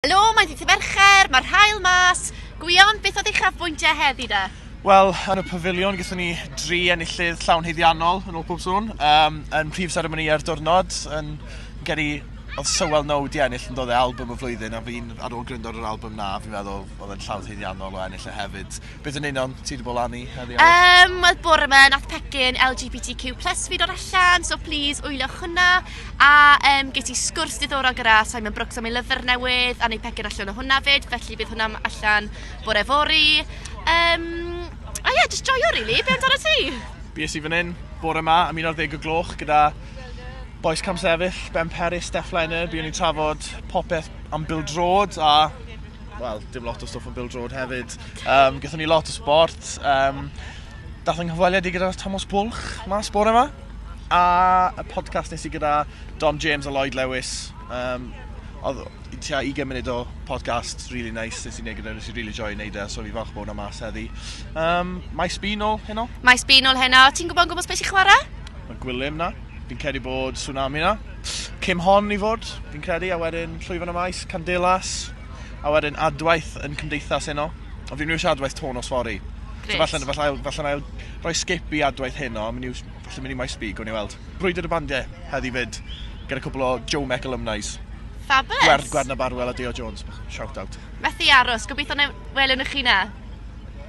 Helo, mae'n ddydd Mercher, mae'r haul mas. Gwion, beth oedd uchafbwyntiau heddi de? Wel, yn y pafiliwn gyda ni dri enillydd llawn heiddiannol yn ôl pob sŵn. Um, yn prif seremoni ar diwrnod, yn geri oedd Sywel Now di ennill yn dod e album y flwyddyn a fi'n ar ôl gryndo ar yr album na, fi'n meddwl oedd e'n llawn heiddiannol o ennill e hefyd. Be dyn ni'n on? Ti di bod lan i heddi oes? Um, Wel, bore yma, nath pecyn LGBTQ plus fi dod allan, so please wyliwch hwnna. A um, gei ti sgwrs diddorol gyda Simon Brooks am ei lyfr newydd, a neu pecyn allan o hwnna fyd, felly bydd hwnna allan bore fori. Um, a ie, yeah, just joio, really. Be amdano ti? Bies i fan hyn, bore yma, am 11 o gloch gyda Boes Camsefyll, Ben Peris, Steph Leonard, byddwn ni'n trafod popeth am Bill Drod a wel, dim lot o stwff yn Bill Drod hefyd. Um, Gython ni lot o sport. Um, dath yng nghyfweliad i gyda Thomas Bwlch mas bore yma. A y podcast nes i gyda Dom James a Lloyd Lewis. Um, oedd tua 20 munud o podcast, really nice, nes i'n neud gyda, nes i'n really joy neud e, so fi falch bod hwnna mas heddi. Um, Maes Bean ôl heno? Maes Bean ôl heno, ti'n gwybod yn gwybod beth sy'n chwarae? Mae Gwilym na. Fi'n credu bod Tsunami na. Cym hon i fod, fi'n credu, a wedyn Llwyfan y Maes, Candelas, a wedyn adwaith yn Cymdeithas heno. O, fi'n mynd i adwaith to nos fori. Gret. So falle, falle, falle, falle ail rhoi skip i adwaith heno, a mynd i, falle mynd i Maes B, gwn i weld. Brwydr y bandiau heddi fyd, gyda cwbl o Joe Mec alumni's. Fabulous. Gwerd, Gwerd na Barwell a Deo Jones. Shout out. Methu aros, gobeithio na welwn i chi na.